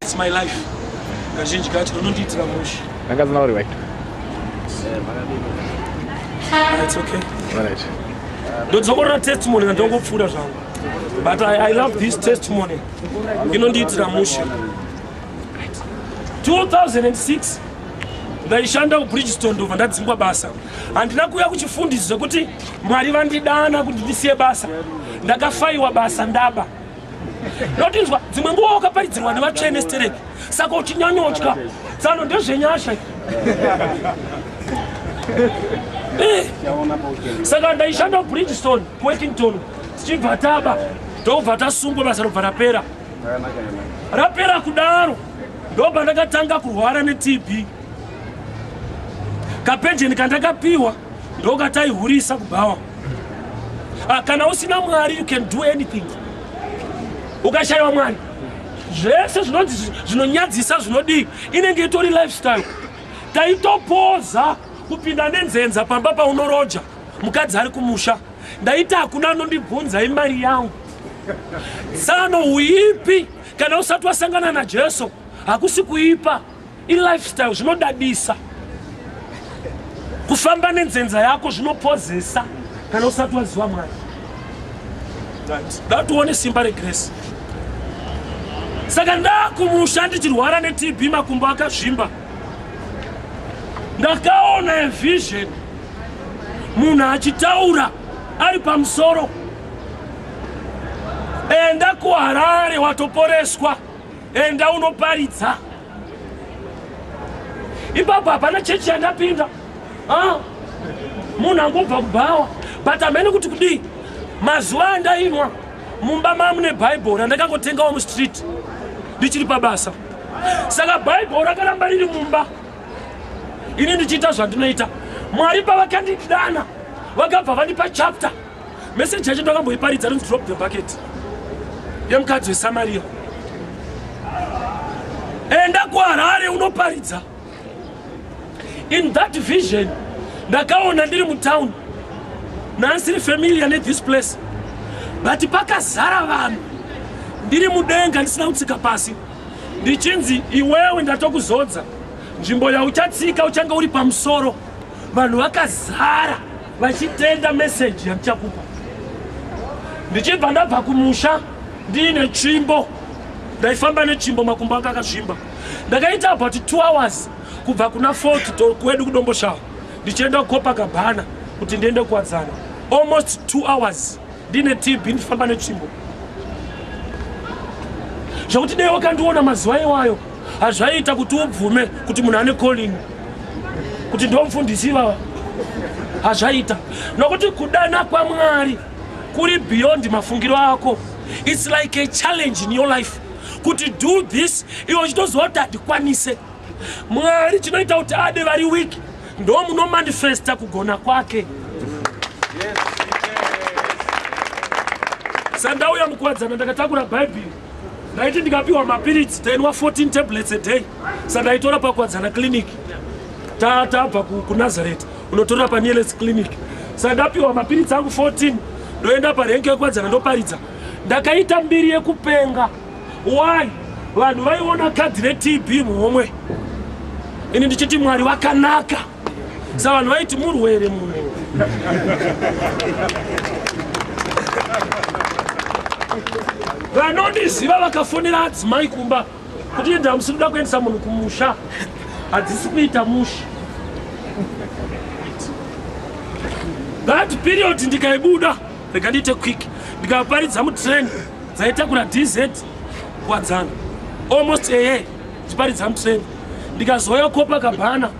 It's my life. Kazhinji kacho unondiitira mushe. Vakadzi nauri right. Ah, it's okay. All right. Ndodzokorora testimony ndongopfuura zvangu. But I, I love this testimony. Inondiitira mushe. 2006 ndaishanda kubridgestone ndobva ndadzingwa basa handina kuuya kuchifundisi zvekuti mwari vandidana kuti ndisiye basa ndakafaiwa basa ndaba ndotinzwa dzimwe nguva wakaparidzirwa nevatsvene stereki saka uchinyanyotya tsano ndezvenyasha eh. saka ndaishanda kubridgestone kuwekington tichibva taba ndobva tasungwa basa robva rapera rapera kudaro ndopandakatanga kurwara netb kapenjeni kandakapiwa ndokataihurisa kubhawa ah, kana usina mwari you can do anything ukashayiwa mwari zvese zvinonzi zvinonyadzisa zvinodii inenge itori lifestyle taitopoza kupinda nenzenza pamba paunoroja mukadzi ari kumusha ndaiti hakuna anondibvunza imari yangu tsano uipi Kana usati wasangana naJesu hakusi kuipa, ilifestyle zvinodadisa. Kufamba nenzenza yako zvinopozesa kana usati waziva Mwari. Ndatione simba regrace. Saka ndakumusha ndichirwara neTB makumbo akazvimba. Ndakaona a vision munhu achitaura ari pamusoro enda kuharare watoporeswa enda unoparidza ipapo hapana chechi yandapinda ah, munhu angobva kubhawa but amene kuti kudii mazuva andainwa mumba mamune bhaibhori andakangotengawo mustreet ndichiri pabasa saka bhaibhori rakaramba riri mumba ini ndichiita zvandinoita mwari pavakandidana vakabva vandipa chapter Message yacho ndakamboiparidza rinzi drop the bucket yemukadzi weSamaria. Enda kuHarare unoparidza. In that vision ndakaona ndiri mutown nansiri familiar ne this place but pakazara vanhu ndiri mudenga ndisina kutsika pasi ndichinzi iwewe ndatokuzodza nzvimbo yauchatsika uchange uri pamusoro Vanhu vakazara vachitenda message yandichakupa. Ndichibva ndabva kumusha ndiine tsvimbo. Ndaifamba netsvimbo makumbo anga akazvimba. Ndakaita about 2 hours kubva kuna Fort to kwedu kudomboshawa. Ndichienda kukopa kabhana kuti ndiende kuwadzana. Almost 2 hours ndine TB ndifamba netsvimbo. Zvakuti dai wakandiona mazuva iwayo hazvaiita kuti ubvume kuti munhu ane calling kuti ndomufundisi ivava hazvaiita nokuti kudana kwamwari kuri beyond mafungiro ako its like a challenge in your life kuti do this iwe uchitoziva kuti handikwanise mwari chinoita kuti ade vari weak ndo munomanifesta kugona kwake sandauya mukuwadzana ndakatakura bhaibheri ndaiti ndikapiwa mapiritsi tainwa 14 tablets a day sandaitora pakwadzana clinic tabva kunazareth unotora panieles clinic sandapiwa mapiritsi angu 14 ndoenda parenke yekwadzana ndoparidza ndakaita mbiri yekupenga why vanhu vaiona kadhi retb muhomwe ini ndichiti mwari vakanaka Bsa vanhu vaiti murwere mumwe. Vanondiziva vakafonera adzimai kumba kuti enda hamusi kuda kuendesa munhu kumusha hadzisi kuita musha. That period ndikaibuda rega ndiite quick ndikaparidza mutrain dzaitakura dz kwadzana almost eye ndiparidza mutrain ndikazouya kopa kabhana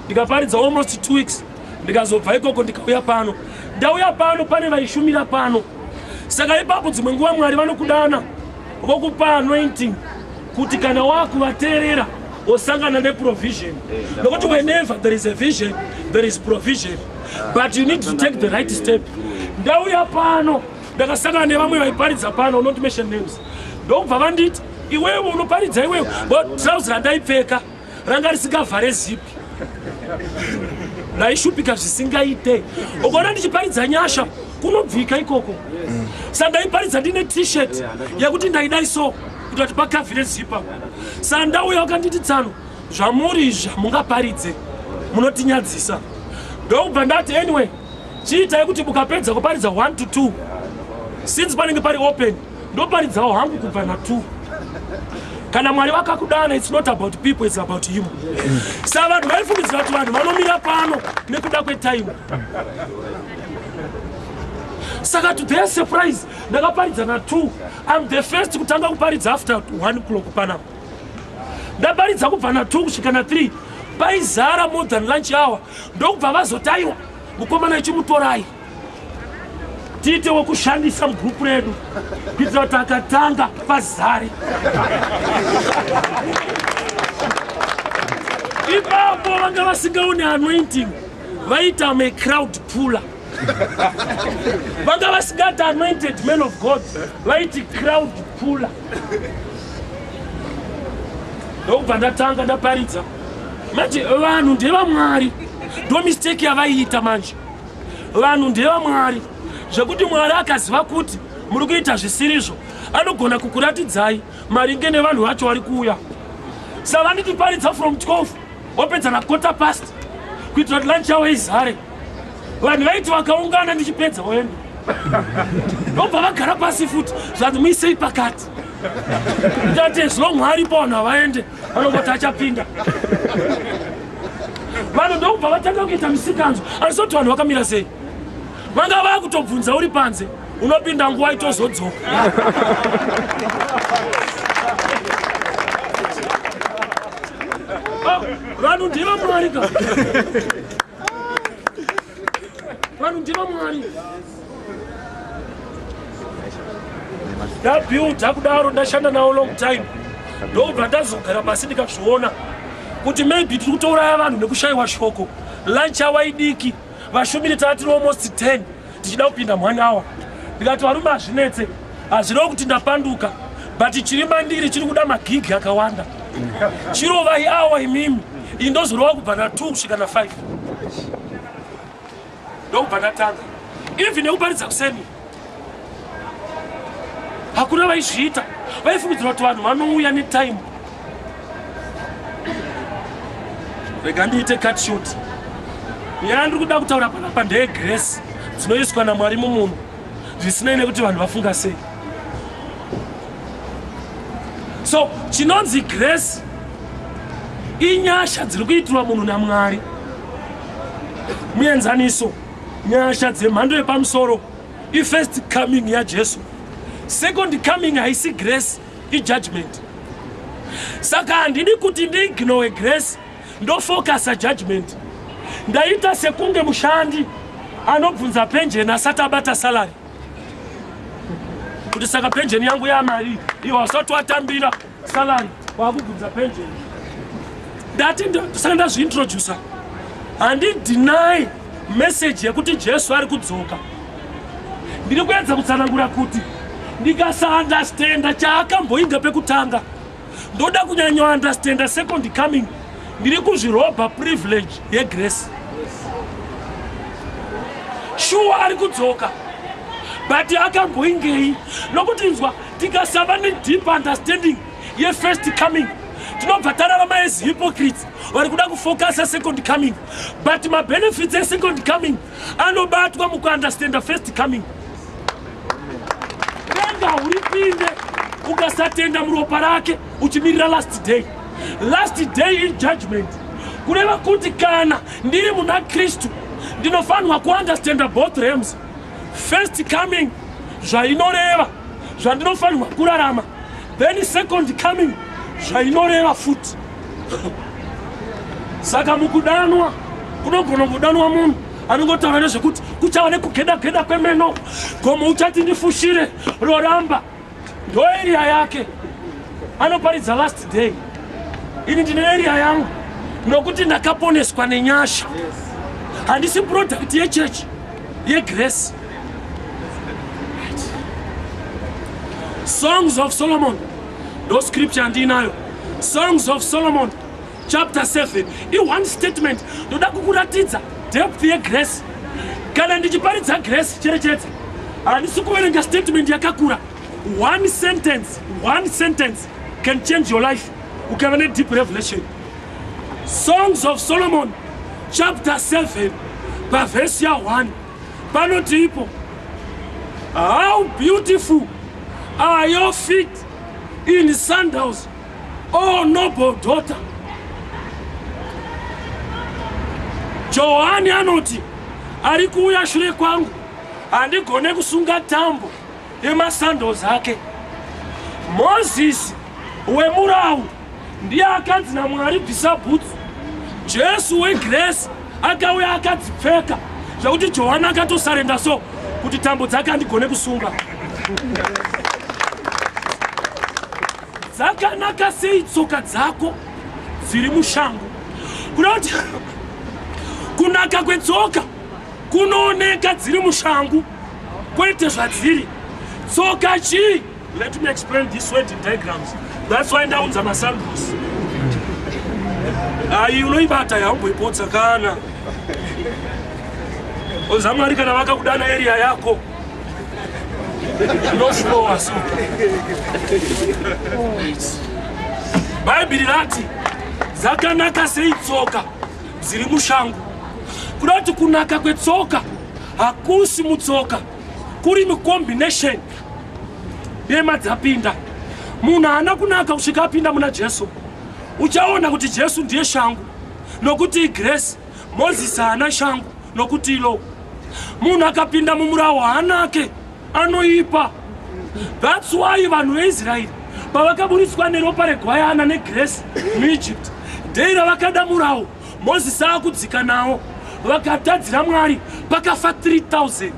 ndikaparidza almost two weeks ndikazobva ikoko ndikauya pano ndauya pano pane vaishumira pano saka ipapo dzimwe nguva mwari vanokudana vokupa anointing kuti kana wakuvateerera osangana neprovision nokuti whenever there is a vision there is provision but you need to take the right step ndauya pano ndakasangana nevamwe vaiparidza pano not mention names ndokubva vanditi iwewe unoparidza iwewe but trouse randaipfeka ranga risingavhare zipi ndaishupika zvisingaite ukaona ndichiparidza nyasha kunobvika ikoko sa ndaiparidza ndine t-shirt yekuti ndaidai so kuti vati pakavhire zipa sa ndauya wakanditi tsano zvamuri izvi hamungaparidze munotinyadzisa ndokubva ndati anyway chiitai kuti mukapedza kuparidza 1 to 2 since panenge pari open ndoparidzawo hangu kubva na two kana mwari vakakudana its not about people its about him sa vanhu vaifungidzira kuti vanhu vanomira pano nekuda kwetaimu saka to their surprise ndakaparidza na two im the first kutanga kuparidza after one clock panapa ndaparidza kubva na two kusvika na three paizara more than lunch hour ndokubva vazotaiwa mukomana ichimutorai tiite wekushandisa mugrupu redu kuitira kuti akatanga pazari ipapo vanga vasingaone anointing vaita macrowd puller vanga vasingati anointed man of god vaiti crowd puller ndokubva ndatanga ndaparidza manje vanhu ndevamwari ndomisteki yavaiita manje vanhu ndevamwari zvekuti mwari akaziva kuti muri kuita zvisirizvo anogona kukuratidzai maringe nevanhu vacho vari kuuya savanitiparidza from 12 wapedza na quarter past kuitira kuti lunch yavo izare vanhu vaiti vakaungana ndichipedza woenda ndobva vagara pasi futi zvanzi muisei pakati tate zvino mwari pavanhu havaende vanongoti achapinda vanhu ndokubva vatanga kuita misikanzo asi kuti vanhu vakamira sei vanga vava kutobvunza uri panze unopinda nguva itozodzoka ah, vanhu ndiva mwari ka vanhu ndiva mwari ndabuilda kudaro ndashanda nawo long time ndobva ndazogara pasi ndikazviona kuti maybe tiri kutouraya vanhu nekushayiwa shoko lunch awa idiki vashumiri taa tiri almost 10 tichida kupinda mhani awa ndikati varume hazvinetse hazvireo kuti ndapanduka but chiri mandiri chiri kuda magigi akawanda chirovai awa imimi indozorova kubva na 2 kusvika na 5 ndokubva ndatanga even nekuparidza kuseni hakuna vaizviita vaifungidzira kuti vanhu vanouya netime rega ndiite cut short nyaya ndiri kuda kutaura panapa ndeye grace dzinoiswa namwari mumunhu zvisinei nekuti vanhu vafunga sei so chinonzi grace inyasha dziri kuitirwa munhu namwari muenzaniso nyasha dzemhando yepamusoro ifirst coming yajesu second coming haisi grace ijudgment saka handidi kuti ndiignowe grace ndofokasa judgment ndaita sekunge mushandi anobvunza penjeni asati abata salary kuti saka penjeni yangu yamari iyo wasati watambira salary wakubvunza penjeni ndati ndosaka ndazviintroducer handidinai meseji yekuti jesu ari kudzoka ndiri kuedza kutsanangura kuti ndikasaandastenda chaakamboinga pekutanga ndoda kunyanyo understanda second coming ndiri kuzvirobha privilege yegrace shuwa ari kudzoka but akamboingei nokuti nzwa tikasava nedeep understanding yefirst coming tinobva tarava maes hypocrites vari kuda kufocusa second coming but mabenefits esecond coming anobatwa mukuunderstanda first coming Renga uripinde ukasatenda muropa rake uchimirira last day. Last day in judgment. Kureva kuti kana ndiri muna Kristu ndinofanirwa kuunderstanda both realms. First coming zvainoreva zvandinofanirwa kurarama then second coming zvainoreva futi saka mukudanwa kunogona kudanwa munhu anongotaura nezvekuti kuchava nekugeda geda kwemeno gomo uchati ndifushire roramba ndoeria yake anoparidza last day ini ndine eria yangu nokuti ndakaponeswa nenyasha handisi product yechechi yegrace songs of solomon ndo scripture andiinayo songs of solomon chapter 7 i one statement ndoda kukuratidza depth yegrace kana ndichiparidza grace cherechedza handisi kuverenga statement yakakura one sentence one sentence can change your life ukava nedeep revelation songs of solomon chapter 7 pavhesi ya1 panoti ipo how beautiful are your feet in sandals Oh noble daughter. Johani anoti ari kuuya shure kwangu handigone kusunga tambo yemasandles ake. Mozisi wemurawu ndiye akanzi naMwari bvisa bhutsu. Jesu wegrace akauya akadzipfeka zvekuti Johani akatosarenda so kuti tambo dzake handigone kusunga. Dzakanaka sei tsoka dzako dziri mushango kuda kuti kunaka kwetsoka kunooneka dziri mushangu kwete zvadziri tsoka chii let me explain this word in diagrams that's why ndaunza masandus ayi unoibata yaumboipotsa kana oza mwari kana vakakudana eriya yako bhaibheri rati dzakanaka sei tsoka dziri mushango kuda kuti kunaka kwetsoka hakusi mutsoka kuri mucombination dema dzapinda munhu haana kunaka kusvika apinda muna jesu uchaona kuti jesu ndiye shangu nokuti igresi Mozisi haana shangu nokuti ilo munhu akapinda mumurawo haanake anoipa thats why vanhu veisraeri pavakaburitswa neropa regwayana negresi muegypt dei ravakada murawo mozisi akudzika nawo vakatadzira mwari pakafa 3000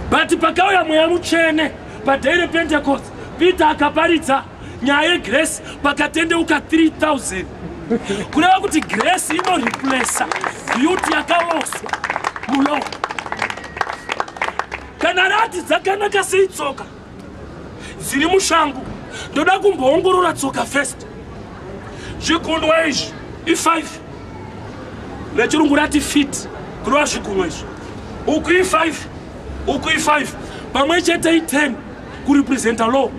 but pakauya mweya mutsvene padei repentecost peter akaparidza nyaya yegrace pakatendeuka 3000 kureva kuti grace inoreplesa beauty yakaloswa mulo kana rati dzakanaka sei tsoka dziri mushangu ndoda kumboongorora tsoka first zvigunwa izvi i5 vechirungu rati fit kureva zvigunwa izvi uku i5 uku i5 pamwe chete i10 kurepresenta law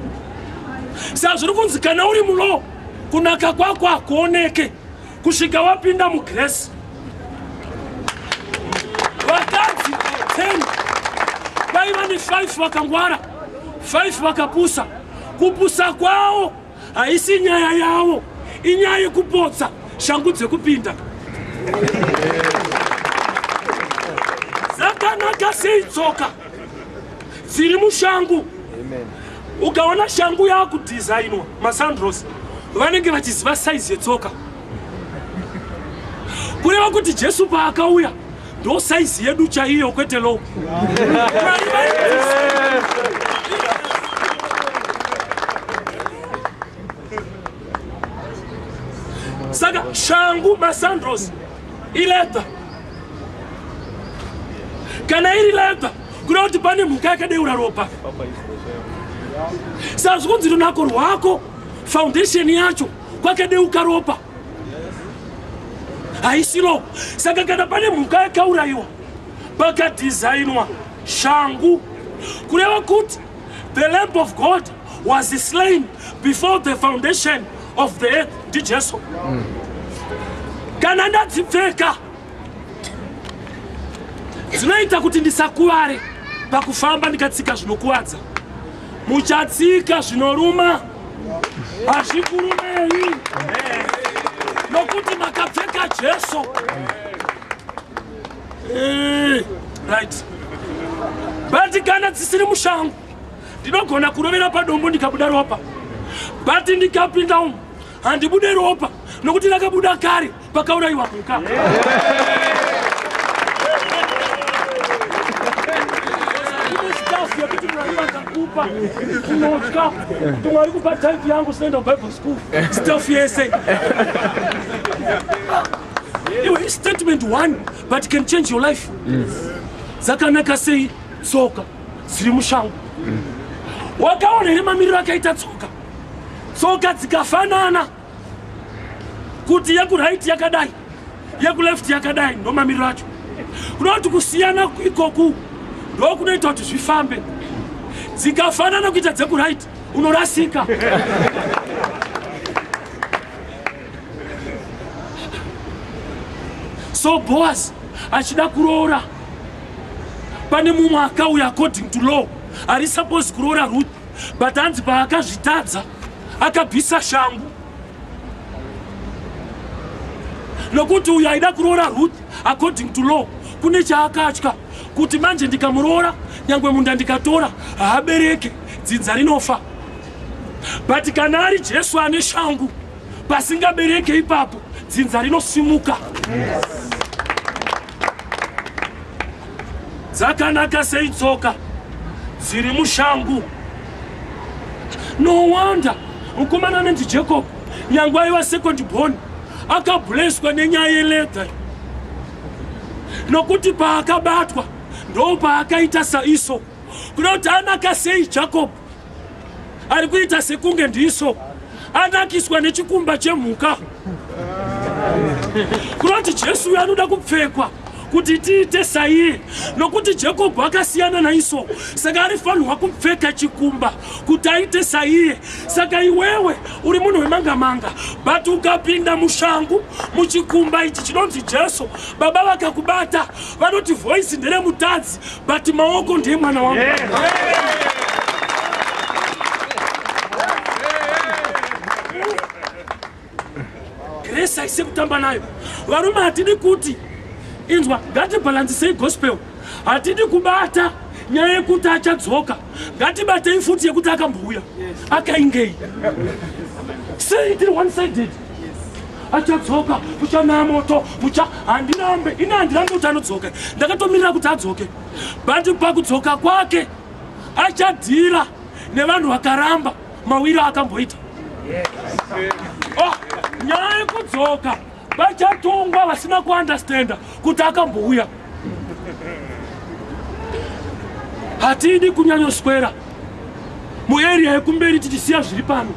sa zviri kunzi kana uri mulo kunaka kwako hakuoneke kusvika wapinda mugresi vakadzi 10 vaiva ne 5 vakangwara 5 vakapusa kupusa kwawo Haisi nyaya yavo, inyaya yekupotsa shangu dzekupinda. Dzakanaka sei tsoka dziri mushangu? Ukaona shangu yakudhizainwa masandros vanenge vachiziva saizi yetsoka, kureva kuti Jesu paakauya Ndo size yedu chaiyo kwete low. Saka shangu masandros ileta kana iri leta kuda kuti pane mhuka yakadeura ropa sazvikunzi runako rwako foundation yacho kwakadeuka ropa haisilo saka kana pane mhuka yakaurayiwa pakadhizainwa shangu kureva kuti the lamp of god was slain before the foundation of the earth ndijesu mm. kana ndadzipfeka dzinoita kuti ndisakuvare pakufamba ndikatsika zvinokuvadza muchatsika zvinoruma hazvikurumei nokuti makapfeka jesu eh, right but kana dzisiri mushango ndinogona kurovera padombo ndikabuda ropa but ndikapinda umu handibude ropa nokuti rakabuda kare pakaurayiwa mhuka yekuti mwari vakakupa tinotya kuti mwari kupa type yangu sinoenda kubible school staff yese iwe statement one but can change your life dzakanaka sei tsoka dziri mushango wakaona here mamiriro akaita tsoka tsoka dzikafanana kuti yekuright yakadai yekuleft yakadai ndomamiriro acho kuda kuti kusiyana ikoku ndokunoita kuti zvifambe dzikafanana kuita dzekuright unorasika so boas achida kuroora pane mumwe akauya according to law ari supposed kuroora ruth but hanzi paakazvitadza akabvisa shangu nokuti uyo aida kuroora ruth according to law kune chaakatya kuti manje ndikamuroora nyangwe munda ndikatora haabereke dzinza rinofa but kana ari jesu ane shangu pasingabereke ipapo dzinza rinosimuka yes. dzakanaka sei tsoka dziri mushangu no wonder mukomana anonzi jacob nyange aiva second born akableswa nenyaya yeledha nokuti paakabatwa ndo paakaita saiso kuda kuti anaka sei jacob ari kuita sekunge ndiso anakiswa nechikumba chemhuka kunoti jesu uyo anoda kupfekwa kuti tiite saiye nokuti jakobho akasiyana naiso saka arifanirwa kupfeka chikumba kuti aite saiye saka iwewe uri munhu wemangamanga but ukapinda mushangu muchikumba ichi chinonzi jesu baba vakakubata vanoti voisi nderemutadzi but maoko ndiye mwana wangu grace aise kutamba nayo varume hatidi kuti inzwa ngatibhalansisei gospel hatidi kubata nyaya yekuti achadzoka ngatibatei futi yekuti akambouya akaingei sei tiri one sided achadzoka kuchanaya moto kucha handirambe ini handirambe kuti anodzoka ndakatomirira kuti adzoke but pakudzoka kwake achadhira nevanhu vakaramba mawiro akamboita oh, nyaya yekudzoka vachatongwa vasina kuandastenda kuti akambouya hatidi kunyanyoswera mueria yekumberi tichisiya zviri pano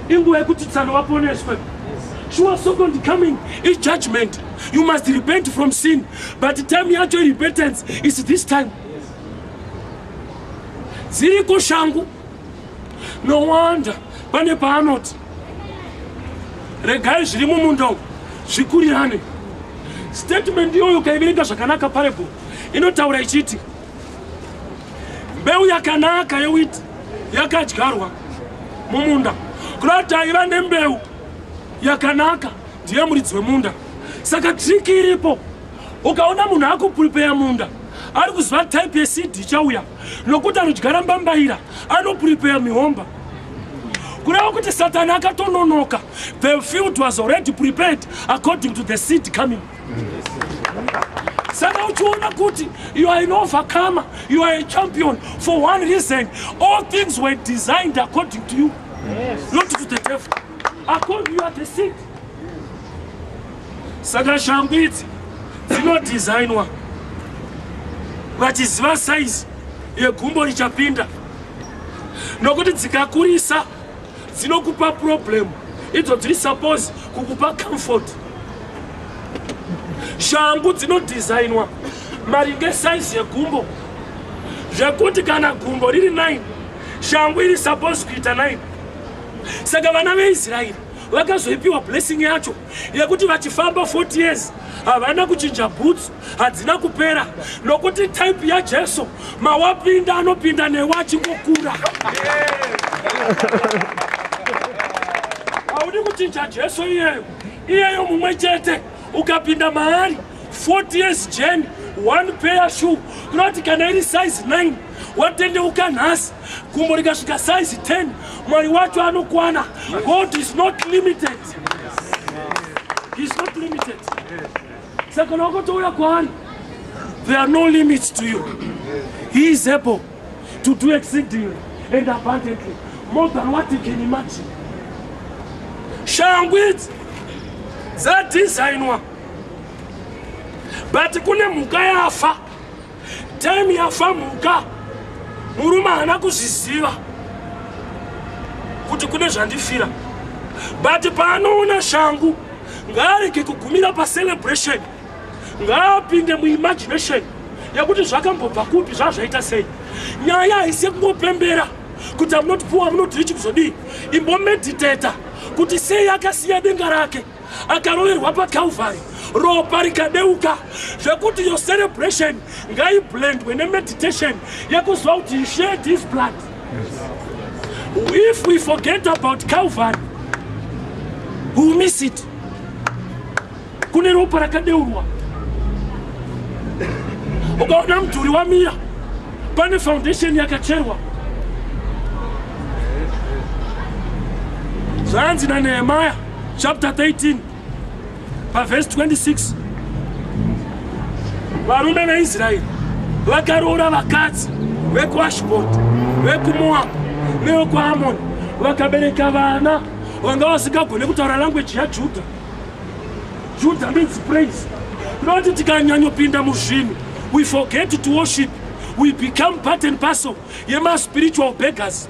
inguva yekuti tsano vaponeswe sure second coming is judgment you must repent from sin but time yacho repentance is this time dziriko shangu No wonder pane paanoti regai zviri mumunda umu zvikurirane. Statement iyoyo ukaiverenga zvakanaka parable inotaura ichiti mbeu yakanaka yewiti yakadyarwa mumunda kuda kuti aiva nembeu yakanaka ndiye muridzi wemunda saka triki iripo ukaona munhu akupripeya munda ari kuziva type yecd chauya nokuti anodyara mbambaira anoprepare mihomba kureva kuti satani akatononoka the field was already prepared according to the seed coming saka uchiona kuti you are an overcomer you are a champion for one reason all things were designed according to you yes. not to the devil according you are the seed saka shangu idzi dzinodhizainwa vachiziva saizi yegumbo richapinda nokuti dzikakurisa dzinokupa problem idzo dziri suppose kukupa comfort shangu dzinodhizainwa maringe saizi yegumbo zvekuti kana gumbo riri 9 shangu iri suppose kuita 9 saka vana veisraeri vakazoipiwa blessing yacho yekuti vachifamba 40 years havana kuchinja bhutsu hadzina kupera nokuti type yajesu mawapinda anopinda newe achingokura haudi kuchinja jesu iyeyo iyeyo mumwe chete ukapinda maari 40 years jeni one pair shoe kunoti kana iri size 9 watendeuka nhasi gumbo rikasvika size 10 mwari wacho anokwana god is not limited is not limited saka kana wakotouya kwaari there are no limits to you he is able to do exceedingly and abundantly more than what you can imagine shangu idzi dzadhizainwa but kune mhuka yafa Time yafamhuka murume haana kuzviziva kuti kune zvandifira but paanoona shangu ngaarege kugumira pacelebration ngaapinde muimagination yekuti zvakambobva kupi zvazvaita sei nyaya haisi yekungopembera kuti amunoti puwa munoti richi kuzodii imbomediteta kuti sei akasiya denga rake akaroverwa paCalvary ropa rikadeuka zvekuti your celebration ngaiblendwe nemeditation yekuziva kuti he shared his blood if we forget about Calvary we will miss it kune ropa rakadeurwa ukaona mudhuri wamira pane foundation yakacherwa zvanzi nanehemaya chapter 13 pavhesi 26 varume veisraeri vakaroora vakadzi vekuashboti vekumoabhu nevekuamoni vakabereka vana vanga vasingagone kutaura langweji yajudha judha means praise noti tikanyanyopinda muzvinhu we forget to worship we become part and parcel yemaspiritual beggers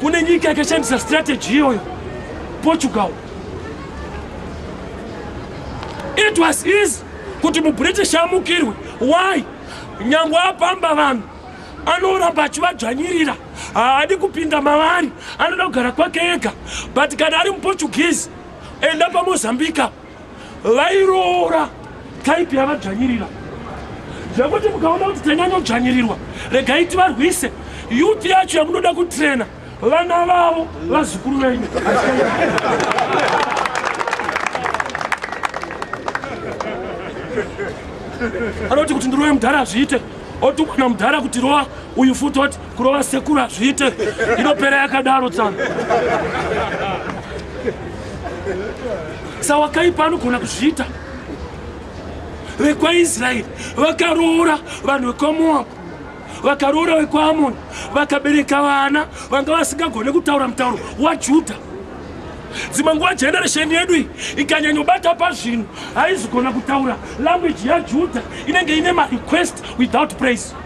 Kune nyika yakashandisa strategy iyoyo, Portugal. It was easy kuti muBritish amukirwe. Why? Nyangwe apamba vanhu anoramba achivadzvanyirira, haadi kupinda mavari, anoda kugara kwake ega. But kana ari muPortuguese, enda paMozambique. vairoora type yavadzvanyirira zvekuti mukaona kuti tanyanyodzvanyirirwa regai tivarwise yuti yacho yamunoda kutrena vana vavo vazukuru venyu anoti kuti ndiroye mudhara hazviite oti mwana mudhara kuti roa uyu futi oti kurova sekuru hazviite inopera yakadaro tsano sawakaipa anogona kuzviita vekwaisraeri vakaroora vanhu vekwamoabhu vakaroora vekwaamoni vakabereka vana vanga vasingagone kutaura mutauro wajudha dzimwe nguva generation yedu iyi ikanyanyobata pazvinhu haizigona kutaura language yajudha inenge ine marequest without praise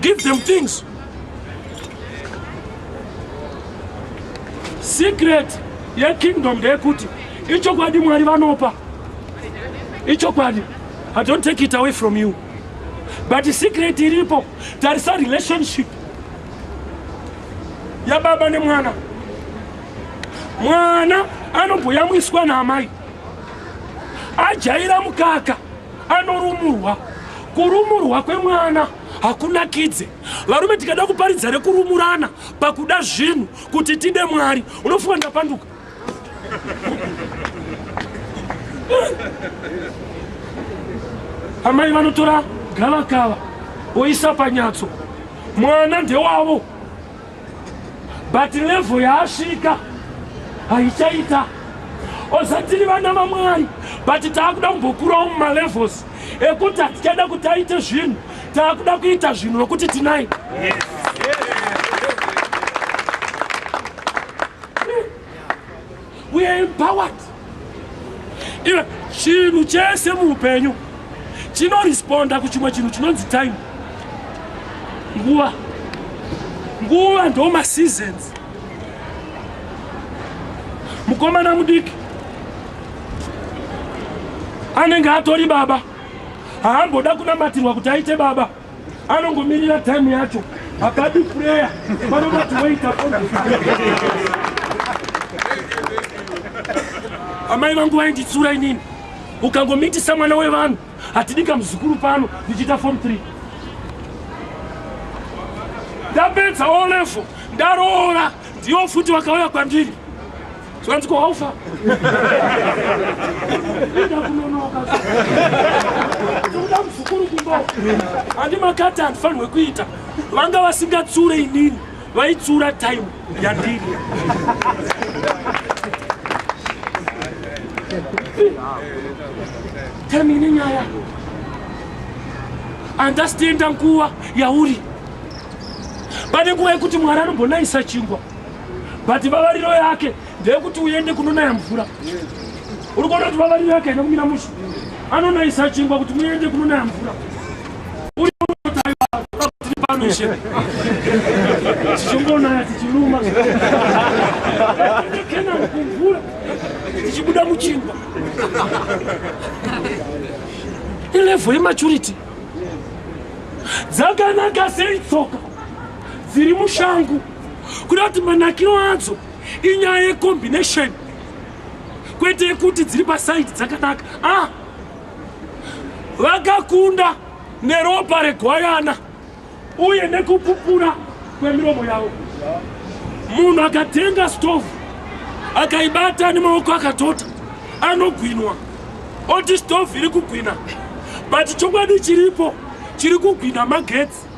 Give them things. Secret yekingdom ndeyekuti ichokwadi Mwari vanopa. Ichokwadi. I don't take it away from you. But secret iripo tarisa relationship yababa nemwana. Mwana anobhoyamwiswa naamai. Ajaira mukaka. anorumurwa kurumurwa kwemwana hakunakidze varume tikada kuparidza rekurumurana pakuda zvinhu kuti tide mwari unofunga ndapanduka amai vanotora gavakava oisa panyatso mwana ndewavo but level yaasvika haichaita osatiri vana vamwari but taakuda kumbokurawo mumalevels ekuti hatichada kuti aite zvinhu taakuda kuita zvinhu nokuti tinai We are empowered. Iwe chinhu chese muupenyu chinoresponda kuchimwe chinhu chinonzi time. Nguva. Nguva ndo maseasons. Mukomana mudiki anenge atori baba haamboda kunamatirwa kuti aite baba. anongomirira time yacho akadi prayer vanobati waita amai vangu vainditsura inini ukangomitisa mwana wevanhu hatidika muzukuru pano ndichiita form 3 ndapedza olevo ndaroora ndiyo futi vakauya kwandiri zvanzi kwaufa ida kunonoka tokuda muzukuru kumba handi makati handifanirwe kuita vanga vasingatsure inini vaitsura time yandiri time ine nyaya andasitenda nguva yauri pane nguva yekuti mwari anobonayisa chingwa but vavariro yake ndeyekuti uende kunonaya mvura uri kuona kuti vavariro yake haina kumira mushe anonayisa chingwa kuti muende kunonaya mvura uriaaaishe tichongonaya tichiruma kena kumvura tichibuda muchingwa ilevel yematurity dzakanaka sei tsoka dziri mushangu kuda kuti manakiro adzo inyaya yecombination kwete yekuti dziri pasaidi dzakanaka a ah! vakakunda neropa regwayana uye nekupupura kwemiromo yavo munhu akatenga stovu akaibata nemaoko akatota anogwinwa oti stovu iri kugwina but chokwadi chiripo chiri kugwina magetsi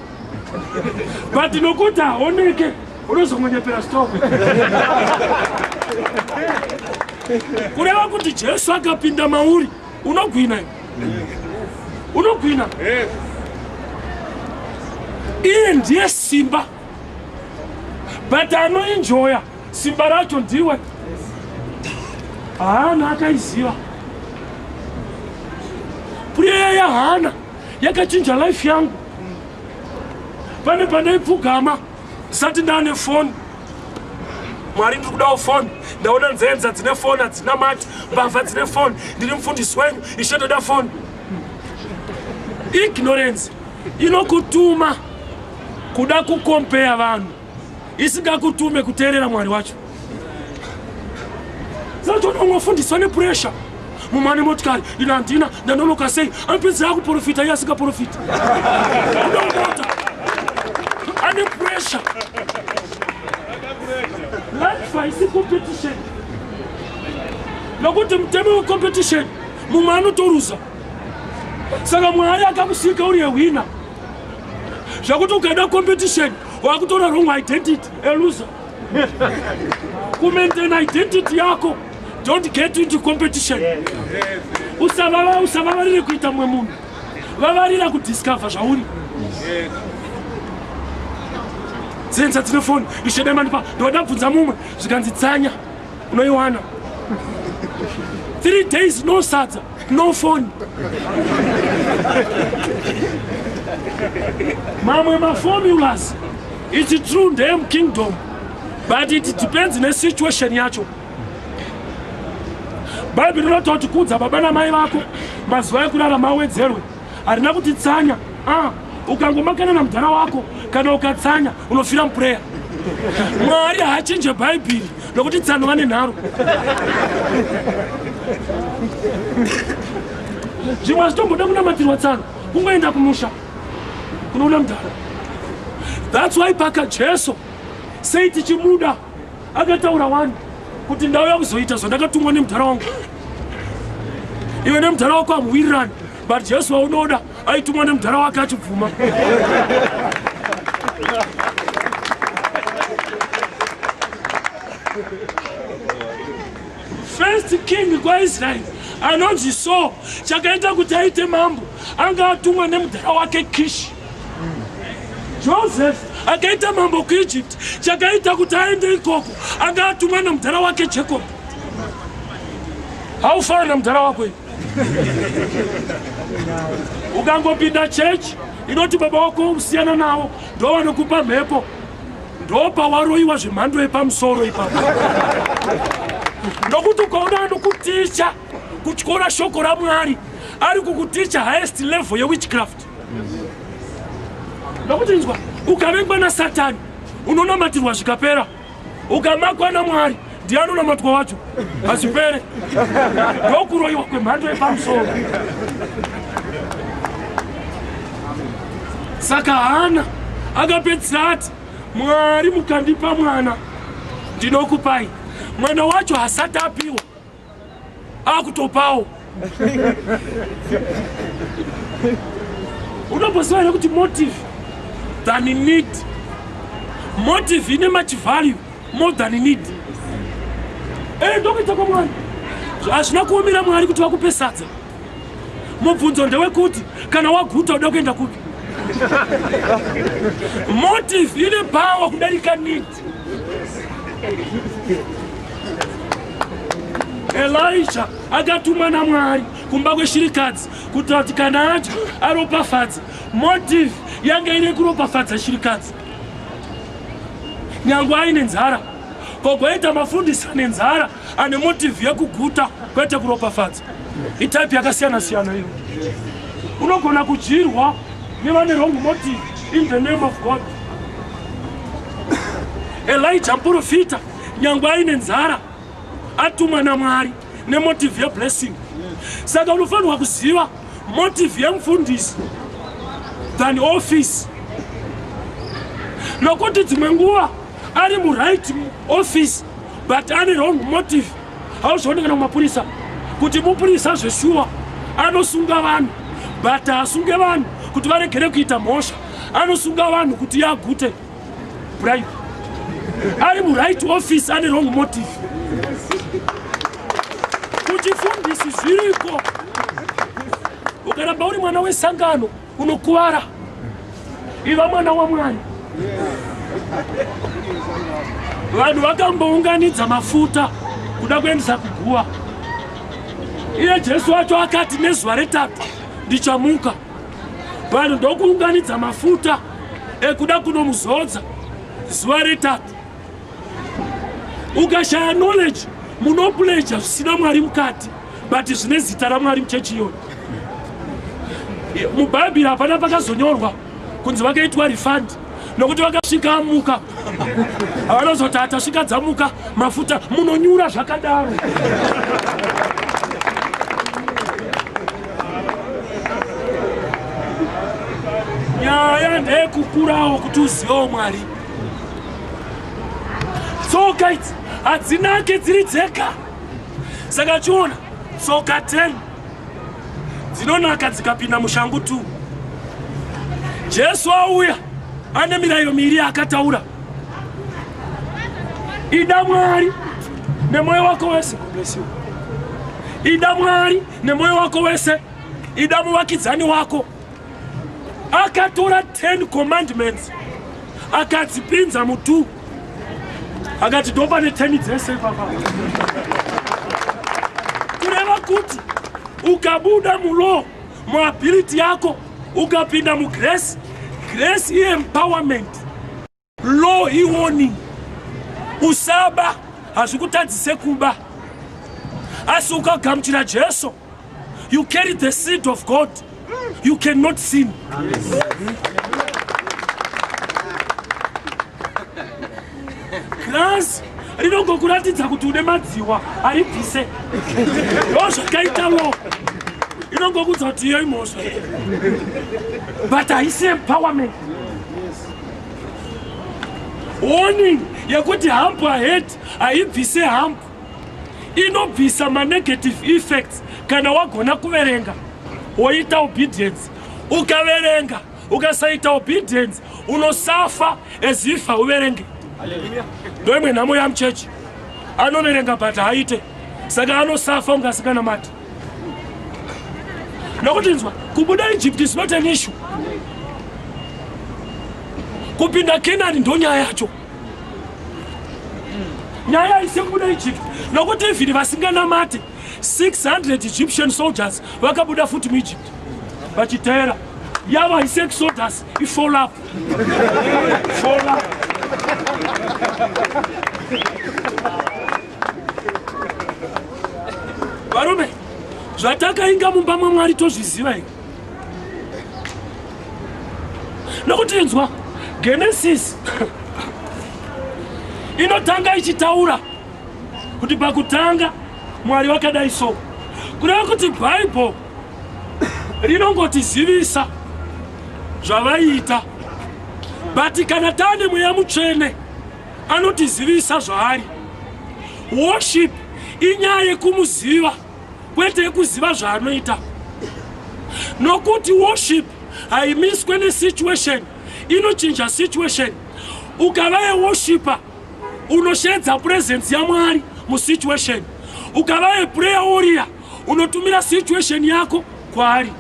but nokuti haoneke unozongonyepera stop kureva kuti jesu akapinda mauri unogwina unogwina iye ndiye simba but anoinjoya simba racho ndiwe haana akaiziva prayer ya hana yakachinja life yangu pane pandaipfugama sati ndane foni mwari ndiri kudawo foni ndaona nzenza dzine foni hadzina mati mbavha dzine foni ndiri mufundisi wenyu ishe ndoda foni ignorance inokutuma kuda kukompeya vanhu isingakutume kuteerera mwari wacho zatoona unofundiswa nepuresha mumwe ane motikari ina handina ndanonoka sei anopedzera akuprofita iye asingaprofiti unomota ane puresha life haisi competition nokuti mutemo wecompetition mumwe anotoruza saka mwari akakusika uri yehwina zvakuti ukaida competition wakutora wrong identity elusa kumaintain identity yako don't get into competition usavava usavavarire kuita mwe munhu vavarira kudiscover zvauri dzenza dzine foni ishedemandipa ndoda bvunza mumwe zvikanzi tsanya unoiwana three days no sadza no phone mamwe maformulas its true ndeyem kingdom but it depends nesituation yacho bhaibheri rinototi kudza baba namai vako mazuva ekurara mawedzerwe harina kuti tsanya ah, ukangomakana namudhara wako kana ukatsanya unofira mupureya mwari haachinje bhaibhiri nokuti tsano vane nharo zvimwe hazvitomboda kunamatirwa tsano kungoenda kumusha kunoona mudhara thats why paka jesu sei tichimuda Akataura wani kuti ndauya kuzoita zvandakatumwa nemudhara wangu. Iwe nemudhara wako hamuwirirani, but Jesu waunoda aitumwa nemudhara wake achibvuma. First king kwaIsrael anonzi so chakaita kuti aite mambo anga atumwa nemudhara wake Kishi. Joseph akaita mambo kuEgypt chakaita kuti aende ikoko anga atumwa namudhara wake Jacob haufana namudhara wako ukangopinda church inoti baba wako usiyana nawo ndo vanokupa mhepo ndo pawaroiwa zvemhando yepamusoro ipapo nokuti ukaona anokuticha kutyora shoko ramwari ari kukuticha highest level yewitchcraft nokuti inzwa ukavengwa nasatani unonamatirwa zvikapera ukamakwa namwari ndiye anonamatwa wacho hazvipere ndokuroyiwa kwemhando yepamusoro saka hana akapedzisira ati mwari mukandipa mwana ndinokupai mwana wacho hasati apiwa akutopawo unomboziva here kuti motive than need motive ine much value more than need ee eh, ndokuita kwamwari hazvina kuomera mwari kuti vakupe sadza mubvunzo ndewekuti kana waguta uda kuenda kupi motive ine power kudarika need elisha akatumwa namwari kumba kweshirikadzi kuti vati kana acho aropafadza motive yanga ine kuropafadza shirikadzi nyange aine nzara ko kwaita mafundisi ane nzara ane motive yekuguta kwete kuropafadza itype yakasiyana siyana iyo unogona kudyirwa nevane wrong motive in the name of god elija muprofita nyangwe aine nzara atumwa namwari nemotive yeblessing saka unofanirwa kuziva motive yemufundisi than office nokuti dzimwe nguva ari muright office but ane wrong motive hauzvione kana kumapurisa kuti mupurisa zveshuwa anosunga vanhu but haasunge vanhu kuti varegere kuita mhosva anosunga vanhu kuti yagute bribe ari muright office ane wrong motive kuchifundisi zviriko ukaramba uri mwana wesangano Unokuvara. Iva mwana waMwari. Vanhu vakambounganidza mafuta kuda kuendesa kuguva. Iye Jesu wacho akati nezuva retatu ndichamuka. Vanhu ndokuunganidza mafuta ekuda kunomuzodza zuva retatu. Ukashaya knowledge munopleja zvisina Mwari mukati. but zvine zita ramwari muchechi iyoyo mubhaibheri hapana pakazonyorwa kunzi vakaitwa refund nokuti vakasvika amuka havanozoti hatasvika dzamuka mafuta munonyura zvakadaro nyaya ndeyekukurawo kuti uzivewo mwari tsoka idzi hadzinake dziri dzega saka chiona tsoka 10 dzinonaka dzikapinda mushangu 2 jesu auya ane mirayiro miiri yaakataura ida mwari nemwoyo wako wese kublesiwa ida mwari nemwoyo wako wese ida muvakidzani wako akatora 10 commandments akadzipinza mutu akati ndo pane 10 dzese papa kureva kuti ukabuda mulo muability yako ukapinda mugrace grace iempowerment Law iwoni usaba hazvikutadzise kuba asi ukagamuchira Jesu you carry the seed of God you cannot sin Grass rinongokuratidza kuti une madziwa aribvise ndo zvakaita law inongokuudza kuti iyo imhosva but haisi empowerment warning yekuti hump ahead haibvise hump inobvisa manegative effects kana wagona kuverenga woita obedience ukaverenga ukasaita obedience unosafa as if hauverenge ndoimwe nhamo yamuchechi anoverenga but haaite saka anosafa ungasinganamati nokutinzwa kubuda egypt is not an issue kupinda kenani ndonyaya yacho nyaya isi kubuda egypt nokuti ivhiri vasinganamati 600 egyptian soldiers vakabuda futi muegypt vachiteera yava haisi exodus ifollow up follow up varume zvatakainga mumba mwamwari tozviziva i nokuti inzwa genesis inotanga ichitaura kuti pakutanga mwari vakadai so kureva kuti bhaibheri rinongotizivisa zvavaiita but kana taane mweya mutsvene anotizivisa zvaari worship inyaya yekumuziva kwete yekuziva zvaanoita nokuti worship haimiswe nesituation inochinja situation ukava yeworshiper unosheedza presence yamwari musituation ukava yeprayer warrior unotumira situation yako kwaari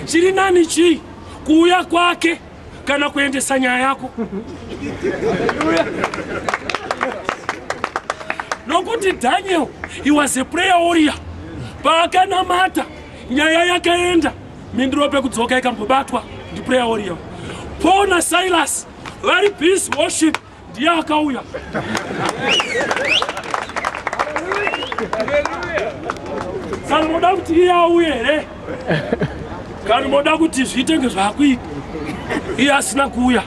chiri nani chii kuuya kwake kana kuendesa nyaya yako nokuti daniel he was a prayer warrior paakanamata nyaya yakaenda mindiro pekudzoka ikambobatwa ndiprayer warrior paul nasilas vari peace worship ndiye akauya kana moda kuti iye auye here kana moda kuti zviite nge zvakuita iye asina kuuya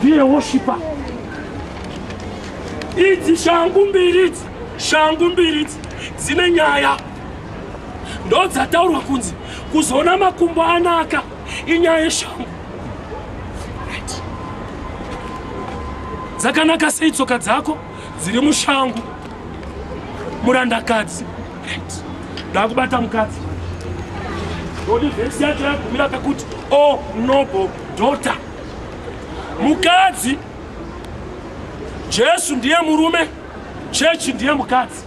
ndiye woshipa idzi shangu mbiri idzi shangu mbiri idzi dzine nyaya ndodzataurwa kunzi kuzoona makumbo anaka inyaya yeshangu dzakanaka sei tsoka dzako dziri mushangu murandakadzi ndakubata mukadzi ndodi vhesi yacho yagumira pakuti o oh, noble daughter mukadzi jesu ndiye murume chechi ndiye mukadzi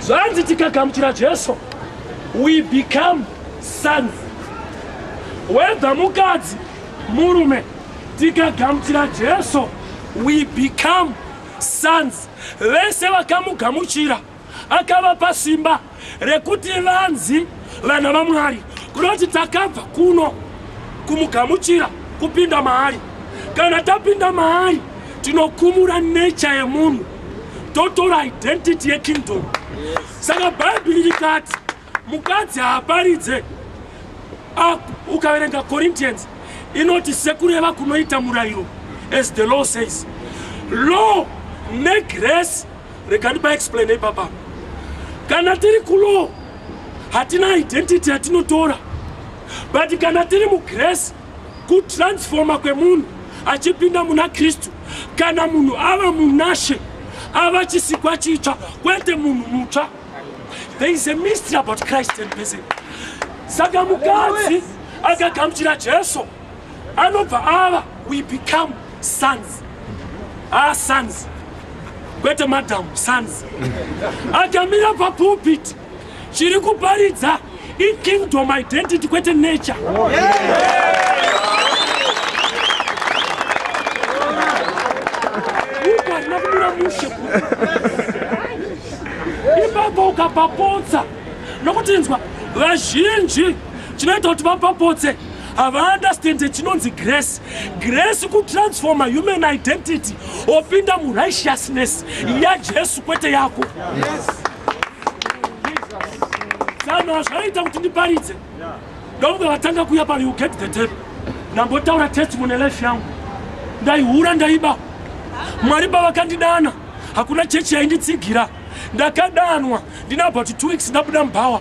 zvanzi tikagamuchira jesu we become sons whether mukadzi murume tikagamuchira jesu we become sons vese vakamugamuchira Akavapa simba rekuti vanzi vana vaMwari, kunoti takabva kuno kumugamuchira kupinda maari. Kana tapinda maari, tinokumura nature yemunhu, totora identity yekingdom. Saka Bhaibheri rikati mukadzi haaparidze ah, ukaverenga corinthians inoti sekureva kunoita murayiro as the law says law negrace rekandiba explain ipapa kana tiri kulaw hatina identity yatinotora but kana tiri mugrace kutransfoma kwemunhu achipinda muna kristu kana munhu ava munashe ava chisikwa chitsva kwete munhu mutsva There is a mystery about Christ and Betsy. Saka mukadzi akagamuchira Jesu anobva ava we become sons. Ah sons. Kwete madam sons. Akamira papulpit chiri kuparidza I kingdom identity kwete nature. Oh, Ipapo ukapapotsa nokuti inzwa vazhinji chinoita kuti vapapotse havaunderstande chinonzi grace grace kutransforma human identity opinda murighteousness yajesu kwete yako yes. Zano hazvaita kuti ndiparidze. Dongo vatanga kuya pano you get the tape. Ndambotaura testimony life yangu. Ndaihura ndaiba. Mwari pavakandidana hakuna chechi yainditsigira. Ndakadanwa ndinabva kuti two weeks ndabuda mubhawa.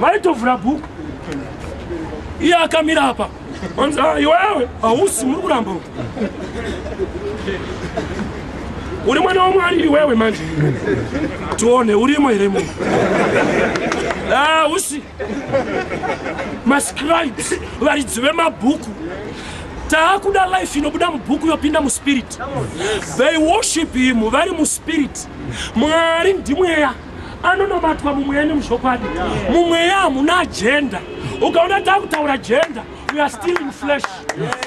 vaitovhura bhuku iye akamira apa anzi ah, iwewe hausi muri kuramba uri mwana wamwari iwewe manje tione urimo here munhu hausi ah, mascribes varidzi vemabhuku taakuda life inobuda mubhuku yopinda muspirit they worship him vari muspirit mwari ndimweya anonobatwa mumweya nemuzvokwadi mumweya hamuna agenda ukaona takutaura gender we are still in flesh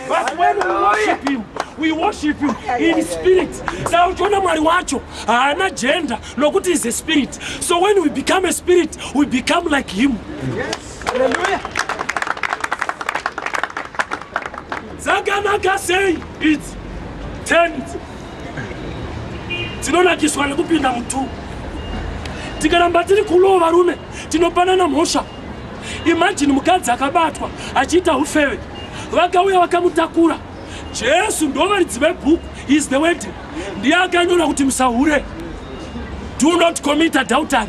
but when we worship him we worship him in spirit saka uchiona mwari wacho haana gender nokuti is a spirit so when we become a spirit we become like him dzakanaka sei idzi 10 tinonakiswa nekupinda mutu tikaramba tiri kulowo varume tinopanana mhosva imajini mukadzi akabatwa achiita ufeve vakauya vakamutakura jesu ndovaridzi vebhuku is the wed ndiye akanyora kuti musahure do not commit adultery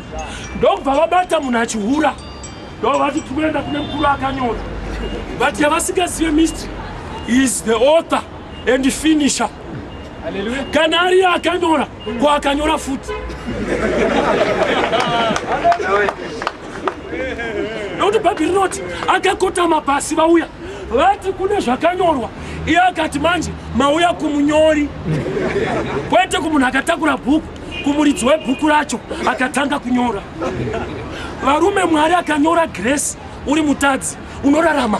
ndokubva vabata munhu achihura ndovati tikuenda kune mukuru akanyora but yavasingazive mystery is the author and finisher kana ariye akanyora ko akanyora futi nokuti bhaibheri rinoti akakotama pasi vauya vati kune zvakanyorwa iye akati manje mauya kumunyori kwete kumunhu akatakura bhuku kumuridzi webhuku racho akatanga kunyora varume mwari akanyora gresi uri mutadzi unorarama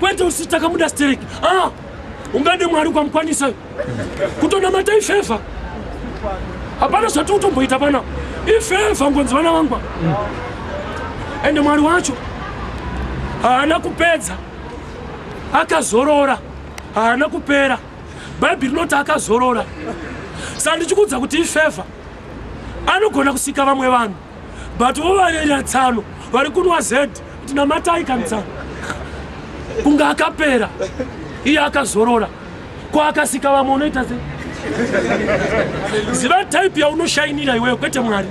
kwete usi takamuda stereki ah, ungade mwari ukamukwanisa kutonamata ifevha hapana zvati utomboita pana ifevha ngonzi vana vangwa ende mwari wacho haana kupedza akazorora haana kupera bhaibheri rinoti akazorora sandichikuudza kuti ifevha anogona kusika vamwe vanhu but vovanyanya tsano vari kunwa z kuti namatai kanitsano kunge akapera iye akazorora ko akasika vamwe unoita se ziva type yaunoshainira iweyo kwete mwari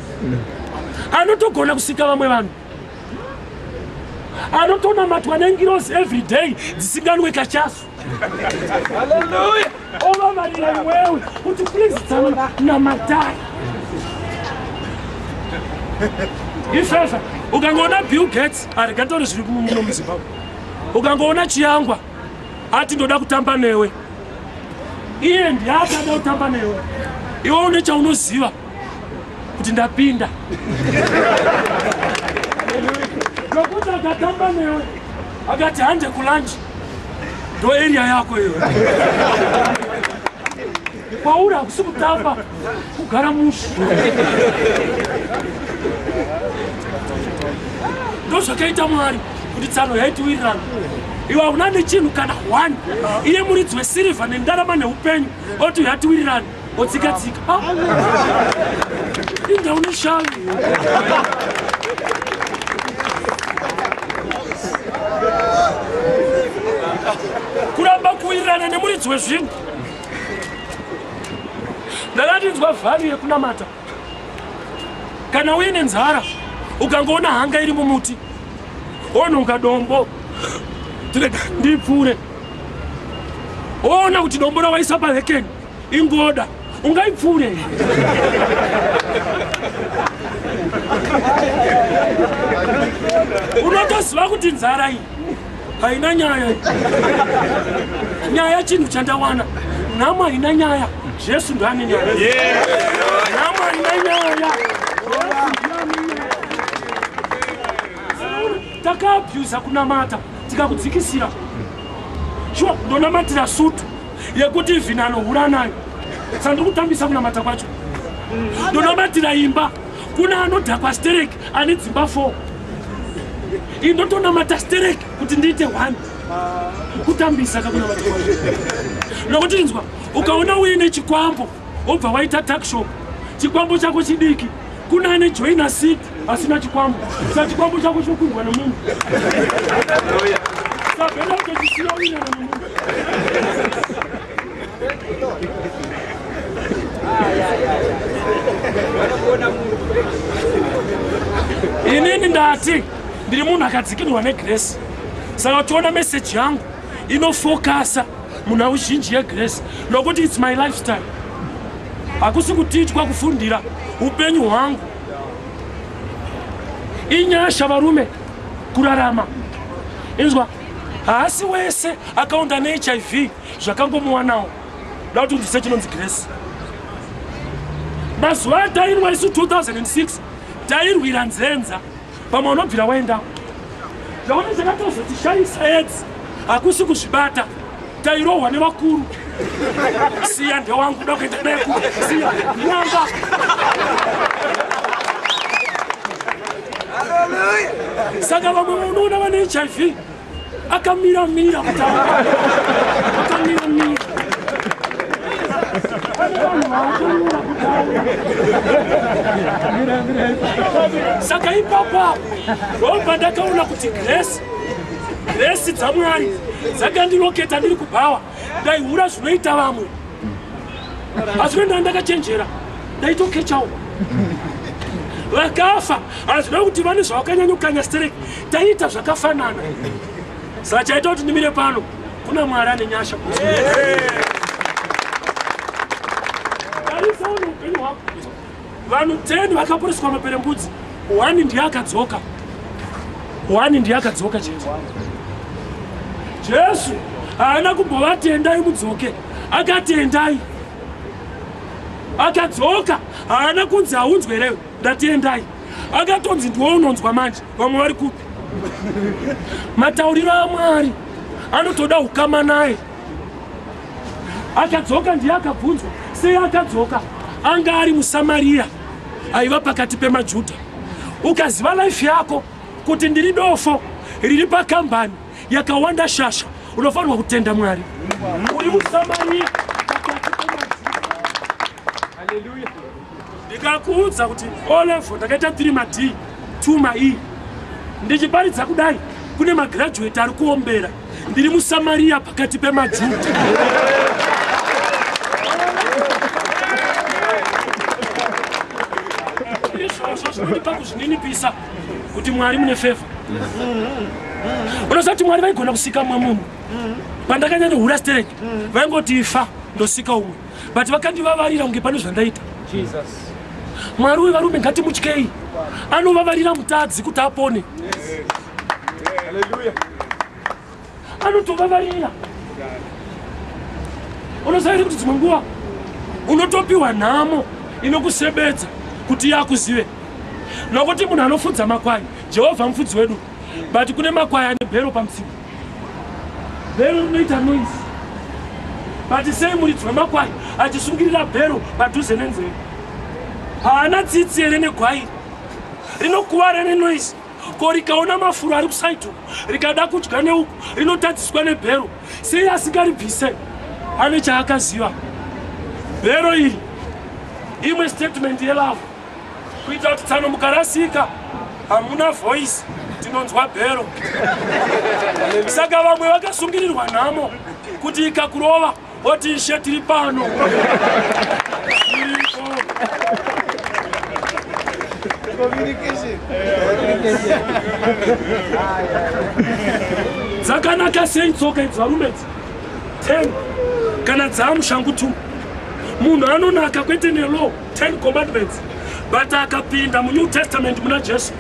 anotogona kusika vamwe vanhu anotonamatwa nengirosi every day dzisinganwe kachasu Hallelujah. Over my life, well, would you please tell me now my dad? Ifefe, ukangoona Bill Gates arikatori zviri muno muZimbabwe. Ukangoona Chiyangwa ati ndoda kutamba newe. Iye ndiye akada kutamba newe. Iwe une chaunoziva kuti ndapinda. Nokuti akatamba newe akati hande kulanji ndo area yako iyo kwauri hakusi kutamba kugara mushe ndo zvakaita mwari kuti tsano yaitiwirirana iwe hauna nechinhu kana one iye muridzi wesirivha nendarama neupenyu oti yatiwirirana Otsika tsika. Ah. Inda une shavi. Kuramba kuwirirana nemuridzi wezvinhu. Ndakandinzwa vhari yekunamata. Kana uine nzara ukangoona hanga iri mumuti onhonga dombo tirega ndipfuure oona kuti dombo rawaisa pahekeni ingoda ungaipfuure unotoziva kuti nzara iyi haina nyaya nyaya chinhu chandawana nhamo haina nyaya jesu ndane nyaya nhamo haina nyaya takaabhuza kunamata tikakudzikisira shuwa ndonamatira sutu yekuti even anohura nayo sandiri kutambisa kunamata kwacho ndonamatira imba kune anodhakwa stereki ane dzimba four ii ndotonamata stereki kuti ndiite one kutambisa kakunamata kwacho nokuti inzwa ukaona uine chikwambo wobva waita takshop chikwambo chako chidiki Kuna ane joina seat asina chikwambo. Sa chikwambo chako chokundwa nomunhu. Sa benda ucho chisina wina nomunhu. Inini ndati ndiri munhu akadzikinirwa negrace. Saka uchiona message yangu inofokasa munhau zhinji yegrace nokuti its my lifestyle hakusi kutiitwa kufundira upenyu hwangu inyasha varume kurarama inzwa haasi wese akaonda nehiv zvakangomuwanawo da kuti ndise chinonzi grace mazuva atainwa isu 2006 tairwira nzenza Pamwe unobvira waendawo. Zvaone zvakatozotishayisa edzi hakusi kuzvibata tairohwa nevakuru siya ndewangu kuda kuenda naye ku siya nyanga saka vamwe vanoona vane hiv akamira mira akamira mira saka ipapa ndobva ndakaona kuti grace grace dzamwari dzakandiroketa ndiri kubhawa ndaihura zvinoita vamwe asi kuenda ndakachenjera ndaitokechawo vakafa hazvina kuti vane zvavakanyanya kukanya stereki taiita zvakafanana saka chaita kuti ndimire pano kuna mwari ane nyasha tarisawo neupenyu hwako Vanhu 10 vakaporeswa maperembudzi, one ndiye akadzoka. One ndiye akadzoka chete. Jesu haana kumbovatendai mudzoke, akatendai. Akadzoka, haana kunzi haunzwerewe, ndatendai. Akatonzi ndiwo unonzwa manje, vamwe vari kupi? Matauriro aMwari anotoda ukama naye. Akadzoka ndiye akabvunzwa sei akadzoka. Anga ari muSamariya aiva pakati pemaJuda. Ukaziva life yako kuti ndiri dofo riri pakambani yakawanda shasha unofanirwa kutenda Mwari. Uri muSamariya. ndikakuudza kuti olevo ndakaita 3 mad 2 mai ndichiparidza kudai kune magraduate ari kuombera ndiri musamariya pakati pemajuda izvozvo zvinondipa kuzvininipisa kuti mwari mune feva unoziva kuti mwari vaigona kusika mumwe munhu pandakanyanya hura stereki vaingoti ifa ndosika umwe but vakandivavarira kunge pane zvandaita mwari uyu varume ngatimutyei anovavarira mutadzi kuti apone anotovavarira unoziva here kuti dzimwe nguva unotopiwa nhamo inokusebedza kuti yakuzive nokuti munhu anofudza makwai jehovha mufudzi wedu but kune makwai ane bhero pamutsipa bhero rinoita noise but sei muridzi wemakwai achisungirira bhero padhuze nenzeve haana tsitsi here negwai rinokuvara nenoise ko rikaona mafuro ari kusaidi uku rikada kudya neuku rinotadziswa nebhero sei asikaribvise ane chaakaziva bhero iri imwe statement yelavo kuita kuti tsano mukarasika hamuna voice tinonzwa bhero saka vamwe vakasungirirwa nhamo kuti ikakurova oti ishe tiri pano dzakanaka sei tsoka idzi varume dzi ten kana dzaamushangu two munhu anonaka kwete nelow 10 commandments but akapinda munew testament muna jesu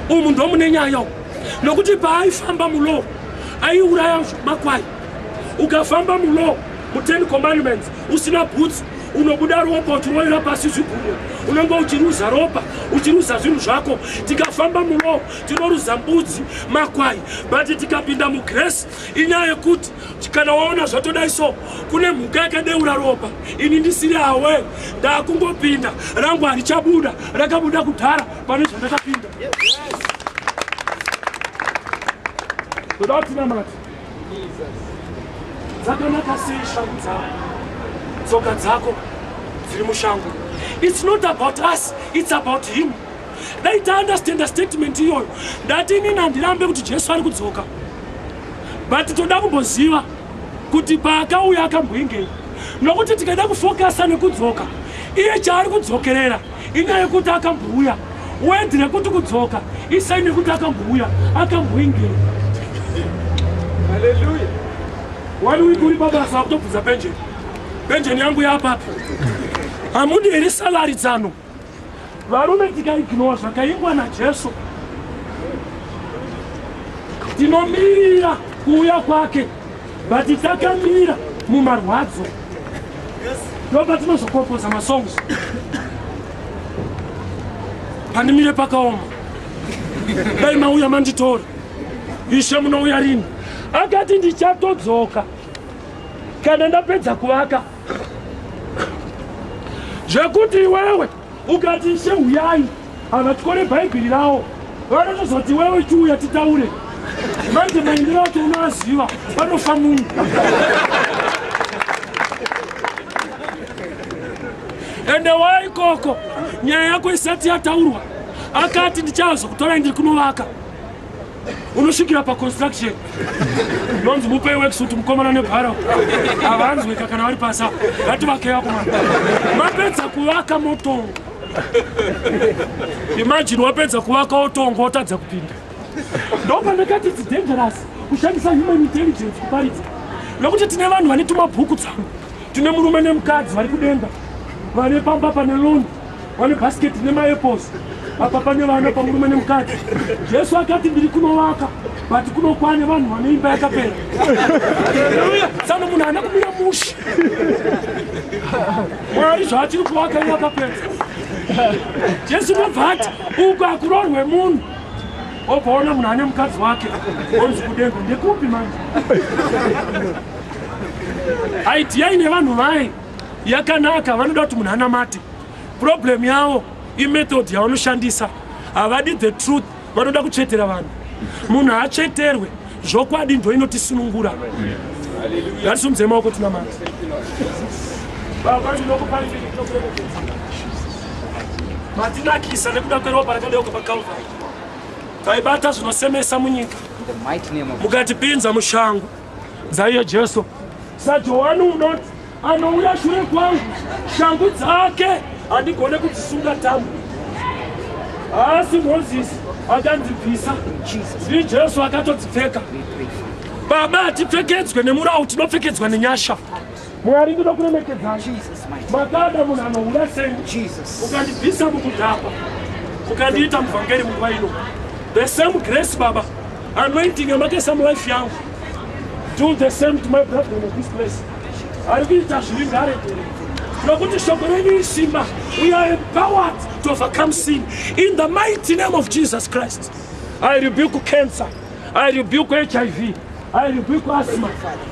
umu ndomune nyaya u nokuti paaifamba mulow aiuraya makwai ukafamba mulow mu10 commandments usina bhutsu unobuda ropa uchiroira pasi zvigumwe unenge uchiruza ropa uchiruza zvinhu zvako tikafamba mulow tinoruza mbudzi makwai but tikapinda mugresi inyaya yekuti kana waona zvatodai so kune mhuka yakadeura ropa ini ndisiri awe ndakungopinda rangu harichabuda rakabuda kudhara pane zvandakapinda toda kutinamati dzakanaka sei shangu dzako tsoka dzako dziri mushango its not about us its about him dai taunderstanda statement iyoyo ndati inini handirambe kuti jesu ari kudzoka but toda kumboziva kuti paakauya akamboingei nokuti tikaida kufokasa nekudzoka iye chaari kudzokerera inyaya yekuti akambouya wedhi rekuti kudzoka isai nekuti akambouya akamboingei haleluya wani wiki uri pabasa akutobvunza penjeni penjeni yangu yapapi hamudi here salari dzano Varume tikaignore zvakaingwa naJesu, tinomirira kuuya kwake, but takamira mumarwadzo ndopa tinozokompoza masongs pandimire pakaoma dai mauya manditora ishe munouya rini akati ndichatodzoka kana ndapedza kuvaka zvekuti iwewe ukati ishe huyai havatyore bhaibheri ravo vanotozoti iwewe chiuya titaure manje maendero acho unoaziva vanofa munhu ende wa ikoko nyaya yako isati yataurwa akati ndichazokutorai ndiri kunovaka unosvikira paconstruction nonzi mupei wekisuti mukomana nebharo havanzweka kana vari pasa ngativakei akomana mapedza kuvaka motongo imajini wapedza kuvaka wotongo wotadza kupinda ndopandakati its dangerous kushandisa human intelligence kuparidza nokuti tine vanhu vane tumabhuku tsangu tine murume nemukadzi vari kudenga vane pamba pane loni Pane bhasiketi nemaeposi apa pane vana pamurume nemukadzi jesu akati ndiri kunovaka but kunokwane vanhu vane imba yakapera sano munhu haana kumira mushi mwari zvaatiri kuvaka iye akapera jesu unobva ati uku akurorwe munhu obvaona munhu ane mukadzi wake onzi kudenga ndekupi manje aidiyai nevanhu vaye yakanaka vanoda kuti munhu anamate problem yavo imethod yavanoshandisa havadi the truth vanoda kutsvetera vanhu munhu haatsveterwe zvokwadi ndo inotisunungura ngatisimudze maoko tinamata matinakisa nekuda kweropa rakadeuka pakalvari taibata zvinosemesa munyika mukatipinza mushango dzaiyo jesu sajohani unoti anouya shure kwangu shangu dzake handigone kudzisunga tambo haasi mozisi akanzibvisa ndi jesu akatodzipfeka baba hatipfekedzwe nemurawu tinopfekedzwa nenyasha Mwari ndinokuremekedzai. Makada munhu anohura seni. Ukandibvisa mukudhakwa. Ukandiita muvhangeri munguva ino. The same grace baba. Anointing yamakaisa mulife yangu. Do the same to my brother in this place. Ari kuita zviri ngare. Nokuti shoko renyu isimba. We are empowered to overcome sin. In the mighty name of Jesus Christ. I rebuke cancer. I rebuke HIV. I rebuke asthma.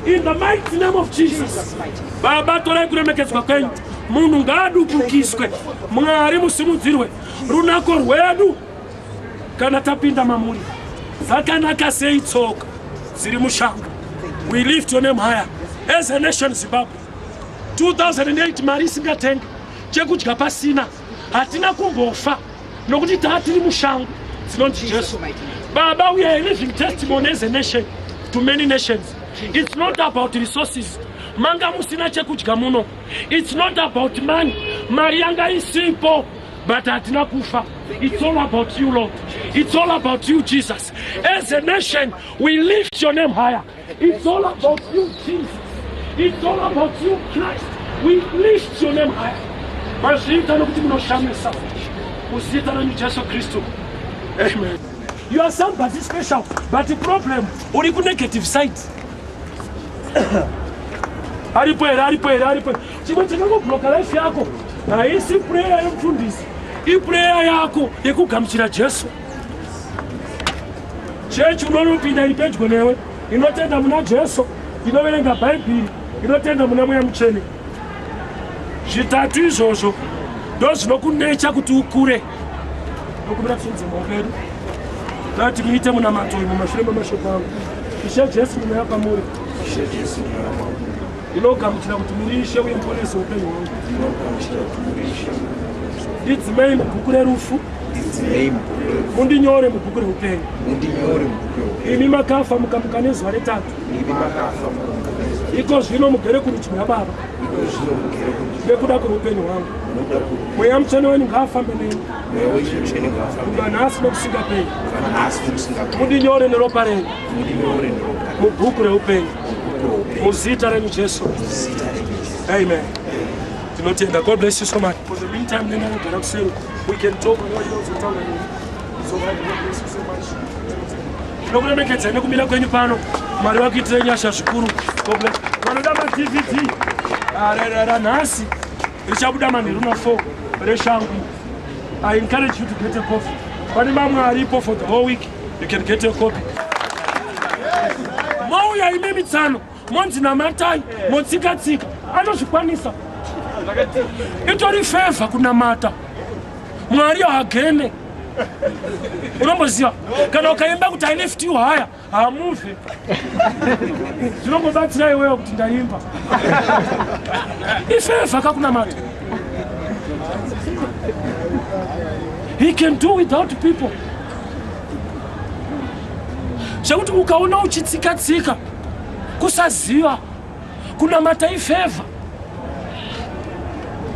In the mighty name of Jesus. Baba torai kuremekedzwa kwenyu. Munhu ngaadubukiswe. Mwari musimudzirwe. Runako rwedu kana tapinda mamuri. Zakanaka sei tsoka dziri mushango. We lift your name higher. As a nation Zimbabwe. 2008 mari isingatenga chekudya pasina. hatina kumbofa nokuti taa tiri mushango dzinonzi jesu baba we are living testimony as a nation to many nations it's not about resources manga musina chekudya muno it's not about money mari yanga isipo but hatina kufa it's all about you lord it's all about you jesus as a nation we lift your name higher It's all about you, Jesus. It's all about you, Christ. We lift your name high. Mazviita nokuti munoshamisa kuzita renyu Jesu Kristu. Amen. You are somebody special, but the problem uri ku negative side. Aripo here, aripo here, aripo. Chimwe chakangobloka life yako haisi prayer yemufundisi, iprayer yako yekugamuchira Jesu. chechi unonopinda iri pedyo newe inotenda muna jesu inoverenga bhaibheri inotenda muna mweya mutsvene zvitatu izvozvo ndo zvinokunecha kuti ukure nokumira tiinze maoko edu dati muite munamato uyu mumashure memashoko angu ishe jesu ndinoya kwamuri ndinogamuchira kuti muri ishe uye muponese upenyu hwangu ndidzimei mubhuku rerufu mundinyore mubhuku reupenyu imi makafa mukamuka nezuva retatu iko zvino mugere kurudyi rwababa nekuda kweupenyu hwangu mweya mutsvene wenyu ngaafambe neni kubva nhasi nokusingapei mundinyore neropa renyu mubhuku reupenyu muzita renyu jesu amen tinotenda god bless you so much for the meantime nena kugara kuseri We can talk more inozotaura nini. So I thank you so much. Tinokuremekedzai nekumira kwenyu pano. Mwari vakuitirei nyasha zvikuru. God bless. Vanoda ma DVD. Ah, ra- ra- ra- Nhasi richabuda manheru na 4 reshangu. I encourage you to get a copy. Pane mamwe aripo for the whole week. You can get a copy. Mauya ine mitsano. monzi namatai motsikatsika anozvikwanisa itori fevha kunamata mwari haagene unomboziva kana ukaimba kuti ileft you haya hamuve zvinongobatsira iwewe kuti ndaimba ifevha kakunamata he can do without people zvekuti ukaona uchitsikatsika kusaziva kunamata ifevha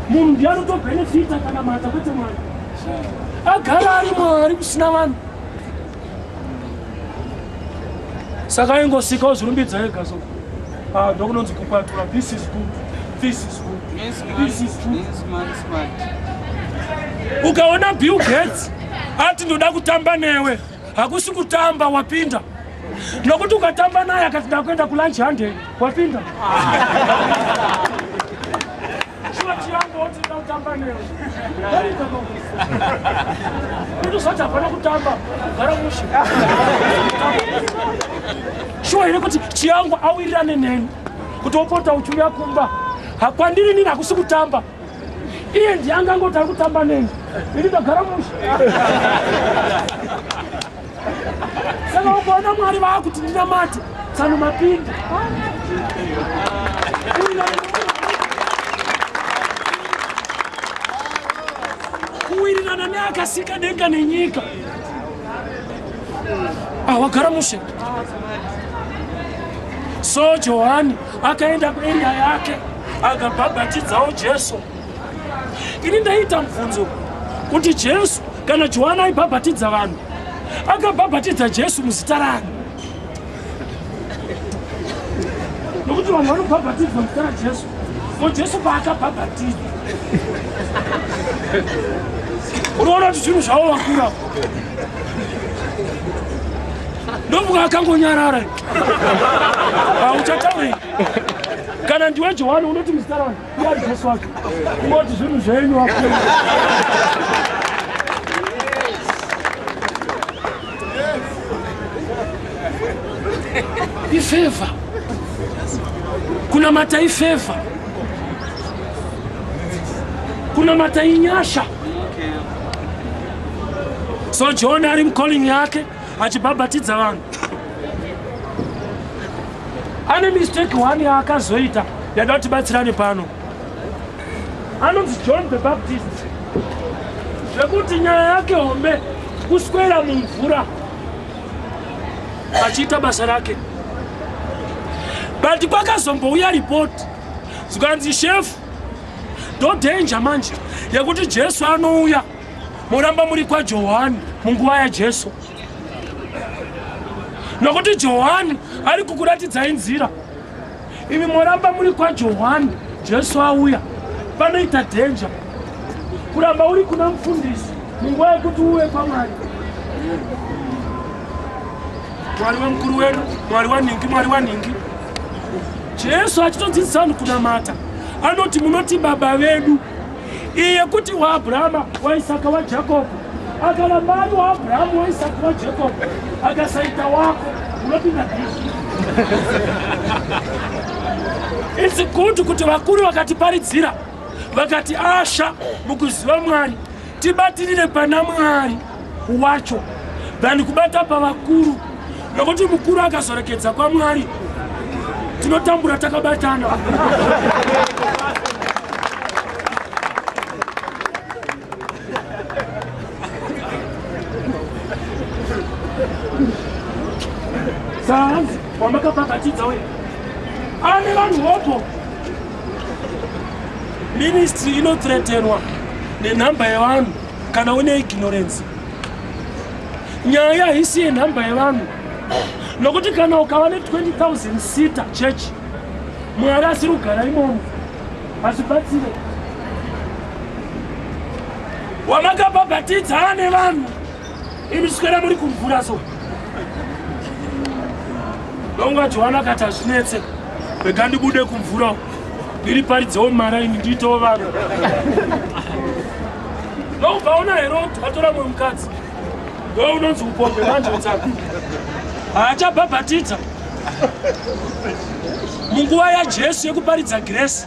munhu ndi anotobenefita kanamata kwete mwari agara ari mwari kusina vanhu saka aingosikawo zvirumbidza ega so ah, ndokunonzi kukwatura this is good this is good this is good ukaona bill gates ati ndoda kutamba newe hakusi kutamba wapinda nokuti ukatamba naye akati ndakuenda kulunch hande wapinda ndozvati hapana kutamba gara mushe shuwa here kuti chiyangu awirirane neni kuti opota uchiuya kumba hakwandiri nini hakusi kutamba iye ndiye angangoti ari kutamba neni ini ndagara musha saka ukaona mwari vaakuti ndinamati tsano mapindi kuwirirana neakasika denga nenyika awagara ah, mushe so johani akaenda kueria yake akabhabhatidzawo jesu ini ndaiita mubvunzo kuti jesu kana johani aibhabhatidza vanhu akabhabhatidza jesu muzita rani nokuti vanhu vanobhabhatidzwa muzita rajesu ko jesu paakabhabhatidza unoona kuti zvinhu zvavo vakura ndovuka akangonyarara auchataurei kana ndiwe johani unoti muzita rangu iari jesu wake ungoti zvinhu zvenyu wa ifeva kunamata ifeva kunamata inyasha so john ari mcalling yake achibhabhatidza vanhu ane mistake one yaakazoita yada kuti batsirane pano anonzi john the baptist zvekuti nyaya yake hombe kuswera mumvura achiita basa rake but kwakazombouya ripoti zvikanzi shefu ndodenja manje yekuti jesu anouya moramba muri kwajohani munguva yajesu nokuti johani ari kukuratidzai nzira imi moramba muri kwajohani jesu auya panoita dhenja kuramba uri kuna mufundisi munguva yekuti uve kwamwari mwari wemukuru wedu mwari wanhingi mwari wanhingi jesu achitodzidzisa vanhu kunamata anoti munoti baba vedu iyi yekuti waabhurama waisaka wajakobho akana mari waabhurahamu waisaka wajakobho akasaita wako unopinda bishi its good kuti vakuru vakatiparidzira vakati asha mukuziva mwari tibatirire pana mwari wacho than kubata pavakuru nokuti mukuru akazorekedza kwamwari tinotambura takabatana sahanzi wamakapakatidza uye ane vanhu hopo ministry inotreterwa nenhamba yevanhu kana une ignorance nyaya haisi yenhamba yevanhu nokuti kana ukava ne 20000 sita church mwari asiri kugara imomo hazvibatsire wamakabhabhatidza ane vanhu imi svikera muri kumvura so donga johani akati hazvinetse rega ndibude kumvura ndiri paridzewo mara ini ndiitewo vanhu ndoukaona here kuti atora mwe mukadzi ndowe unonzi upombe manje utsaka haachabhabhatidza munguva yajesu yekuparidza gresi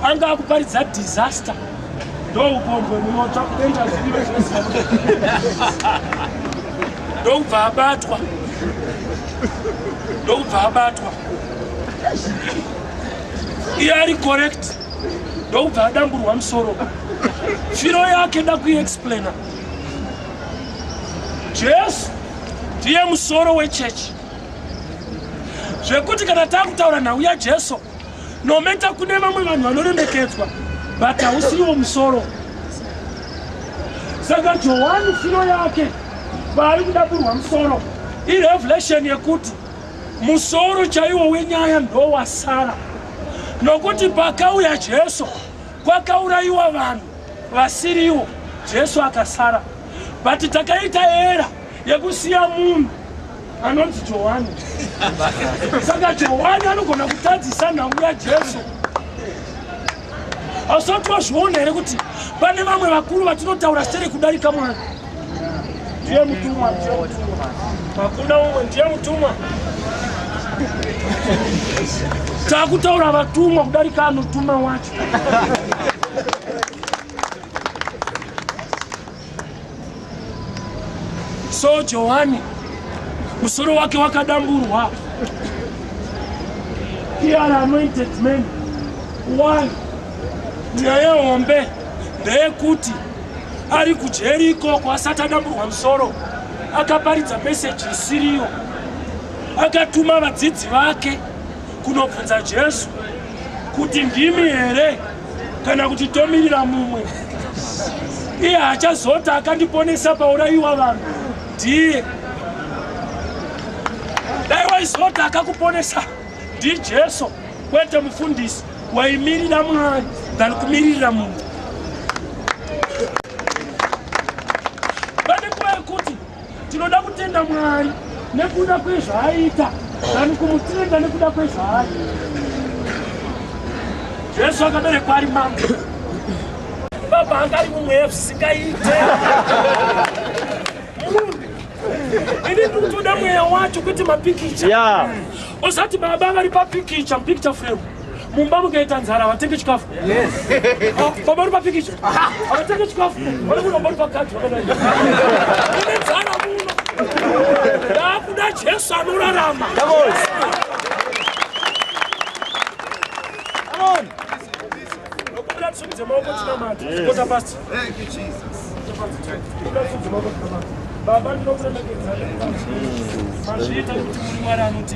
anga akuparidza disaster ndoupombwe munotsva kuenda zviive zvese ndokubva abatwa ndokubva abatwa iye ari correct ndokubva adamburwa musoro firo yake da kuexplaina jesu ndiye musoro wechechi zvekuti kana takutaura nhau yajesu nometa kune vamwe vanhu vanoremekedzwa but hausiwo musoro saka johani firo yake vaari kudaburwa musoro irevelation yekuti Musoro chaiwo wenyaya ndowasara nokuti pakauya Jesu kwakaurayiwa vanhu vasiriwo, Jesu akasara. But takaita era yekusiya munhu anonzi Johani. Saka Johani anogona kutadzisa nhau yaJesu. Hausati wazviona here kuti pane vamwe vakuru vatinotaura sere kudarika Mwari? Ndiye mutumwa, ndiye mutumwa. Hakuna umwe, ndiye mutumwa. Takutaura vatumwa kudarika anotuma wacho. So Johani musoro wake wakadamburwa. Here are anointed men. One, nyaya hombe ndeyekuti ari kujeri ikoko asati adamburwa musoro akaparidza meseji isiriyo akatuma vadzidzi vake kunobvunza Jesu kuti ndimi here kana kuti tomirira mumwe iye achazota akandiponesa paurayiwa vanhu ndiye dai waizota akakuponesa ndijesu kwete mufundisi waimirira mwari than kumiririra munhu Tinoda kutenda Mwari nekuda kwezvaaita than kumutenda nekuda kwezvaari. Jesu akaberekwa ari mambo. Baba anga ari mumweya zvisingaite. Ini ndikutoda mweya wacho kwete mapikicha. Yeah. Osati baba vari papikicha, picture frame. mumba mukaita nzara havatenge chikafu baba uri papikicha havatenge chikafu vanokuda baba uri pakati vakadai ine nzara muno ndaakuda jesu anorarama baba ndinokuremekedza mazviita kuti muri mwari anoti